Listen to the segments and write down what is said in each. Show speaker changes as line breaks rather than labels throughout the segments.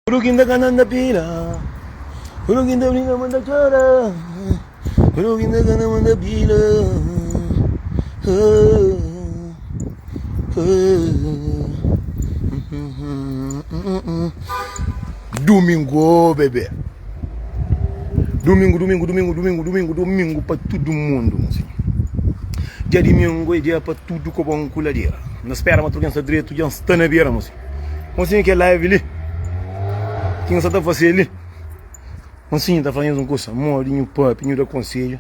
Tudu ki nda kana nda pila Tudu ki nda brinka ma nda txora Tudu ki nda kana ma nda pila Dumingu oh bebê Dumingu, dumingu, dumingu, dumingu, dumingu, dumingu pa tudu mundu mozinhu Dja dimingu é dja pa tudu koba un kuladera N da spera ma tudu ken sta dretu dja N sta na bera mozinhu. Monsinhu kel live li ki nhos sa ta fase li Monsinhu ta fla nhos un kusa modi nhu pape nhu da konsedju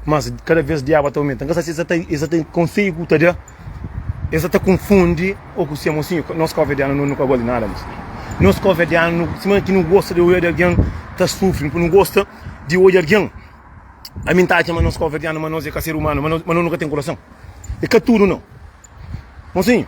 mas kada vez diaba ta aumenta nka sa si es sa ta es sa ta konsedju ku ta da es sa ta konfundi o ku se Monsinhu nos kovedianu no nu ka gosta di nada Monsinhu nos kovedianu sima ki nu gosta di oja di algen ta sufri npu nu gosta di oja algen ami nta atxa ma nos kovedianu ma nos e ka ser umanu ma nos ma nos nu ka ten kurason e ka tudu nau Monsinhu.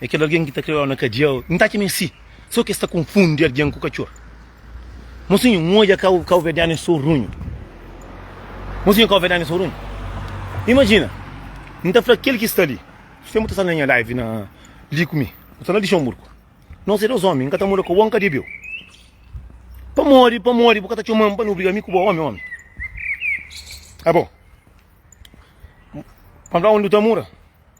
É kel algen ki ta kre-u na kadiâ-u. N ta atxa ma é si, sô ki es ta konfundi algen ku katxor. Mosinhu, N odja kau kauverdianu é sô runhu. Mosinhu, Kauverdianu é sô runhu? Imajina, N ta fla kel ki sta li, Sténpu ta sta na nha live na li ku mi, bu sta na Lixenburgu. Nos é dôs ómi, N ka ta muda ka bo, N ka debe-u. Pamodi, pamodi bu ka ta txoma-m pa N obriga mi ku bo ómi, ómi? Abo, N fla-u undi bu ta mura?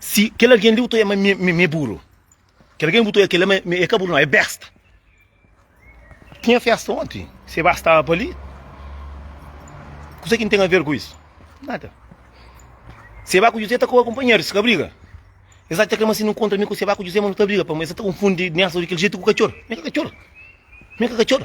Si kel algen li bu ta oia ma mi é buru, kel algen bu ta oia kel la é ka buru, nau, é besta. Tinha festa onti, se ba staba pa li. Kusa ki N ten aver ku isu? Nada. Se ba ku Juzé ta koba kunpanheru, si ka briga. Es atxa kel ma si nu nkontra mi ku se ba ku Juzé ma nu ta briga, pamodi es ta konfundi niasu di kel jetu ku katxor. Mi ka katxor. Mi ka katxor.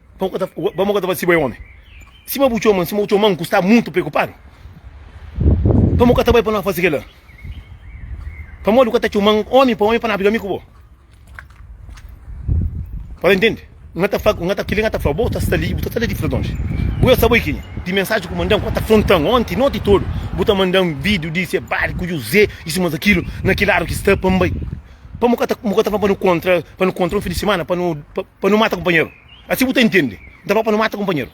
Pamo ka ta, pamo ka ta fasi bo é omi? Sima bu txoma, sima bu txoman ku sta mutu preokupadu, pamo ka ta bai pa no fasi kela? Pamodi bu ka ta txoman omi pa omi pa no abri kami ku bo? Pa no intendi, N ta fla, N ta, kila N ta fla bo ta sta li, bu ta sta la di fredonji. Bu ya sa bo ikini, di mensaji ku mandan, ku N ta frontan onti noti todu, bu ta mandan video di se bari ku Juzé i sima ta kilu, na ki ladu ki sta pa N bai? Pamo ka ta, bu ka ta fla pa no kontra, pa no kontra un fin di simana, pa no. pa nu mata kunpanheru asi bu ta intende N ta fla pa nu mata kunpanheru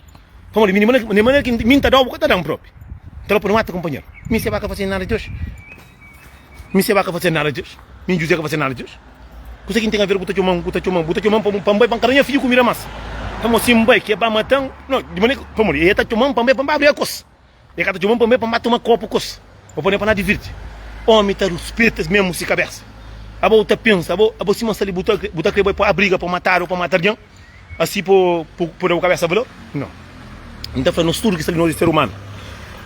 pamodi mi di manera ki mi N ta da-u bu ka ta da-m propi N ta fla pa nu mata kunpanheru Mi Seba ka fasedu nada di oji Mi Seba ka fasedu nada di oji Mi Juzé ka fasedu nada di oji Kuzê ki N ten aver ku bu ta txoma-m bu ta txoma-m bu ta txoma-m pa bu pa N bai pa N kada nha fidju kumida más pamodi si N bai ki e ba mata-m no di manera ki pamodi e ta txoma-m pa N bai pa N bai abri akos E ka ta txoma-m pa mê pa N ba toma kopu ku es, pa pô-ne pa na divirti. Ómi ta ruspeta-s mésmu si kabésa. Aba bu ta pensa, aba aba sima sa li bu ta bu ta krê bai pô abriga pa matadu ô pa mata algen asi pô pô pô da bu kabésa valor? Nau. N ta fla nos tudu ki sta li, nos é ser umanu.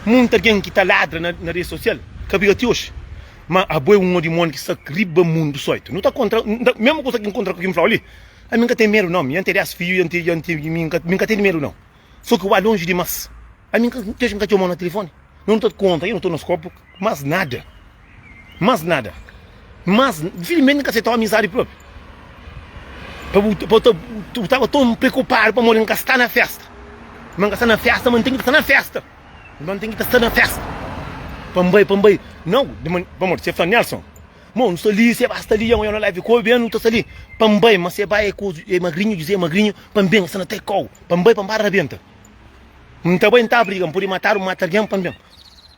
Monti algen ki ta ladra na na rês sosial ka briga ti oji. Má abo é un odimóni ki sta riba mundu sóitu. Nu ta kontra N ta mésmu kuza ki N kontra ku ki N fla-u li, ami N ka ten medu nau. Mi N ten dés fidju i N ten i N ten mi N ka mi N ka ten di medu nau. Só ki ua lonji dimás. Ami ti oji n ka txomau na tilifoni. No nu ta konta, i no torna skopu más nada. Más nada. Más, dificilmenti n ka setau amizadi propi. Pa bu, pa bu tava ton preokupadu pamodi n ka sta na festa. Ma n ka sta na festa, ma n ten ki sta na festa. Ma n ten ki ta sta na festa. Pa n bai, pa n bai. Nau, pamodi se fla Nelson, Mo, nu sta li, se ba sta li, amanha na live kobe, nu ta sta li. Pa n bai, ma se bai e ku e magrinhu, Juzé magrinhu, pa n ben, sta na tei kau. Pa N bai, pa N para rabenta N ta bai, N ta briga N pode matadu, N mata algen pa N ben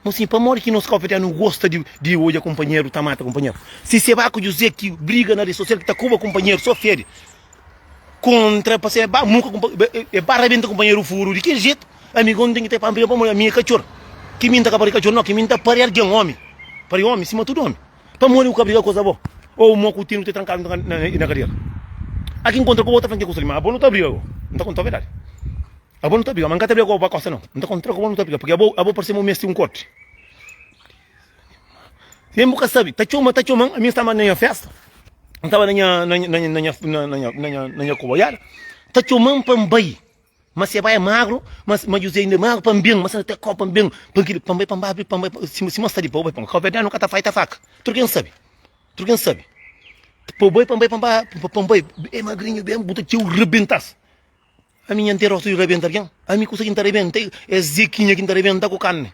Mo si, pamodi ki nos kópia ta nu gosta di odja kunpanheru ta mata kunpanheru Si se ba ku Juzé ki briga na redi sosial ki ta kuba kunpanheru so fede Kontra pa se ba muka kunpanheru e ba rabenta kunpanheru furu di kel jetu Amigon N ten ki ta e pampa-l pamodi ami e katxor Ki mi N ta ka pari katxor no, ki mi N ta pari algen, ómi Pari ómi sima tudu ómi. Pamodi ku ka briga ku es abo? Ou mo ku tenu te trankadu na kadiera? A ki nkontra ku abo ta fla nki ku seli, ma abo nu ta briga ku bo. N ta kontau verdadi. Abo nu ta briga, ma N ka ta briga ku abo pa kosa nau. N ta kontra ku abo nu ta briga, purki abo parse ma bu meste un korti. Sen bu ka sabi, ta txoma, ta txoma-m. Ami N staba na nha festa, N staba na nha koboiada, ta txoma-m pa N bai. Ma se bai é magru, ma ma Juzé inda é magru pa N ben, ma se ta kau pa N ben, pa kile pa N bai pa N bai abri pa N bai pa, si si ma sta li pa u bai pa kau verdadi nu ka ta faita faka tudu ke N sabi tudu ke N sabi pa u bai pa N bai pa N bai pa N bai e magrinhu ben bu ta txeu rebentas ami nha nterosu i rebenta algen ami kusa ki N ta rebenta é zekinha ki N ta rebenta ku karni.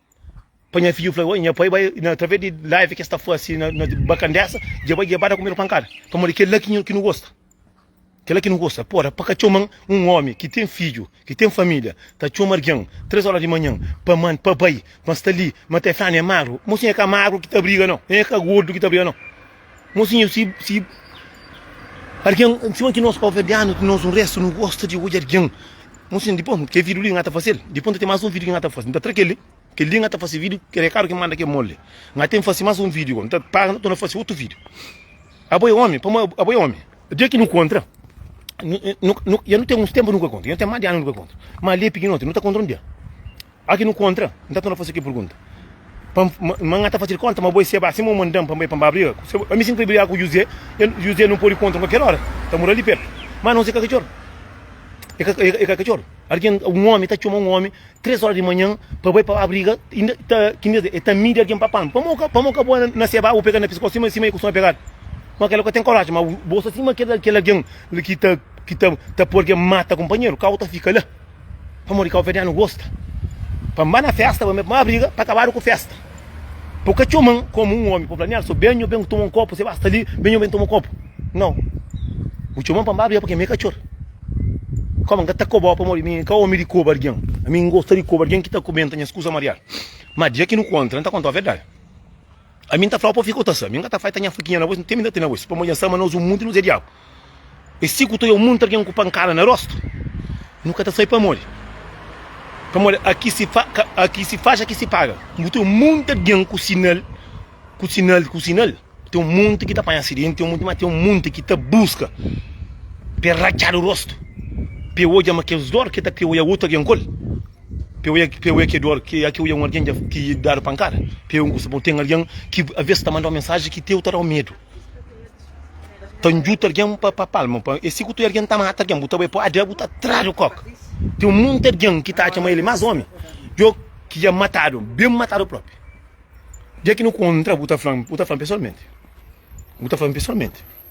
Pa nha fidju fla, nha pai bai na través di live ki es ta fase na na bakan dessa, dja bai djebada ku medu pankada, pamodi kel la ki nhu ki nu gosta, kel la ki nu gosta. Pora pa ka txoman un omi ki ten fidju, ki ten familia, ta txoma argen tres oras di manhan pa man pa bai, ma sta li, ma ta fla-nu, e magru, mosi nha ka magru ki ta briga no, nha ka gordu ki ta briga no. Mosinhu si si argen sima ki nos Cabo-Verdianu ti nos un restu nu gosta di odja argen mosinhu dipos ke vidiu li nga ta fasil dipos nta ten mas un vidiu ki nga ta fasi nta tra keli keli nga ta fasi vidiu keli e karu ki manda ke mol li nga ten fasi mas un vidiu nta paga nta torna fasi otu vidiu abo e omi pamo abo e omi dia ki nu kontra nu nu ya nu ten uns tenpu nu ka kontra ya nu ten mas di anu nu ka kontra ma li e pikinoti nu ta kontra un dia. Oki nu kontra, N ta torna fase ki pergunta. Pa N, ma N ka ta fase-l konta, ma bo e seba, sima N manda-m pa N bai pa N ba briga ku seba. Ami si N krê briga ku Juzé, el, Juzé, nu pode kontra-m kualker ora, N ta mora li pertu. Ma nos e ka katxor, e ka, e ka katxor. Algen, un omi ta txoma un omi tres ora di manhan pa bai pa ba briga, inda ta, ki N ta di, e ta midi algen pa pan. Pamodi o ka, pamodi o ka bo na seba, bo pega-l na piskos sima, sima e kustuma pegadu? Ma kel la ka ten korajen, ma bo sta sima kel, kel algen la ki ta, ki ta, ta poi algen mata kunpanheru, ka bo ta fika la? Pamodi káuverdianu gosta pa N ba na fésta, ba mê má briga pa kabadu ku fésta. Pa bu ka txoma-m komu un ómi, pa bu fla, Nélson, ben nho, ben ku toma un kopu, se ba sta li, ben nho, ben toma kopu. Nau. Bu txoma-m pa N ba briga pake mi é katxor. Kóma N ka ta koba-u pamodi mi ka ómi di koba algen. Ami N gosta di koba algen ki ta kubenta nhas kuza mariadu. Má dia ki nu kontra, N ta konta-u verdadi. Ami nta flau pa fika ota sa mi nga ta fai ta nha fakinha na voz tem nda tena voz pamodi nsama nos un munti nos é diabu e si ku to eu munti algen ku pankada na rosto nu ka ta sai pamodi pamodi aki si fa aki si faz aki si paga bu tem un munti algen ku sinal ku sinal ku sinal tem un munti ki ta panha acidenti tem un munti ma tem un munti ki ta buska pe ratxadu rosto pe odja ma kes dor ke ta kre oia otu algen kol. P'eu é, p'eu é ke dor, ke akeu é un argen dja ki dadu pankada? P'eu é un kusa bon? Ten argen ki avês ta manda-u mensaji ki teu ta da-u medu, ta njuta argen pa pa palma, pa e si ku tu é argen ta mata argen, bu ta bai pâdri, bu ta tra-l kók. Ten un monti argen ki ta atxa ma el é más ómi di ôu, ki dja matadu, ben matadu própi. Dia ki nu kontra, bu ta fla-m, bu ta fla-m pesoalmenti, bu ta fla-m pesoalmenti.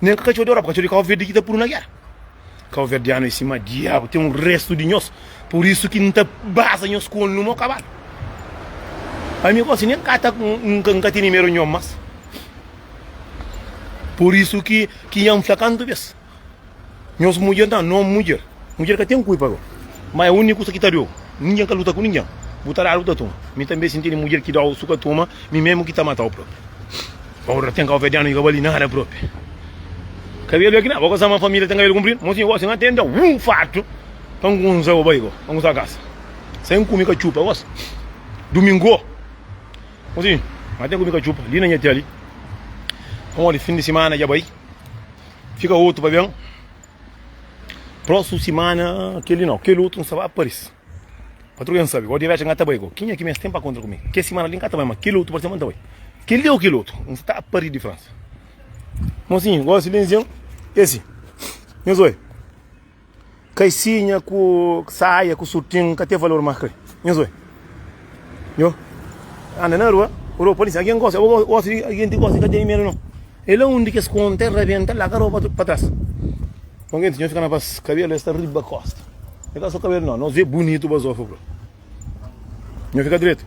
Nen ka katxor di Europa, katxor di Cabo Verde ki ta puru na gera. Cabo-Verdiano é sima diabu, ten un restu di nhos, pur isu ki N ta baza nhos ku ol nu mo kabalu. Ami gosi nen ka ta N ka tene meru nhom mas. Pur isu ki ki nha N fla kantu bes, Nhos mudjer nta no mudjer. Mudjer ka ten kulpa bro. Ma é úniku kusa ki ta deu. Ningen ka luta ku ningen. Bu ta dadu bu ta tuma. Mi tanbe sinti di mudjer ki dau su ka tuma, mi mesmu ki ta matau propi. Paura ten kauverdianu ki ka bali nada propi. Kabelu é ki na bo ka sa ma família ten kabelu kunpridu. Mosi gosi N atenta un fartu pa N kunsa bo barigo, pa N kunsa kasa. Sem kumi katxupa gosi. Dumingo mosi N atenta kumi katxupa li na nha tia li. Pamodi fin di simana dja bai. Fika otu pa ben. Proxu simana kel li nau, kel otu nsa ba paris. Patru ben sabi, go direx nga ta bai go. Kinha ki mes ten pa kontra ku mi? Ke simana li nka ta bai, ma kel otu parse ma nta bai. Kel li ou kel otu? Nsa ta pari di Fransa. Mosinhu, gosi ben zen, e si. Nhos oi. Kaisinha ku saia ku surtin ka ten valor ma kel. Nhos oi. Nho. Anda na rua, ropa li alguém gosta, eu gosto de alguém que gosta de cadeia mesmo não. É lá onde que eles contam, rebenta lá, a roupa para trás. Então, gente, nós ficamos para cabelo, está riba costa. Então, só cabelo não, nós vê bonito, basofo, bro. Nós fica direito.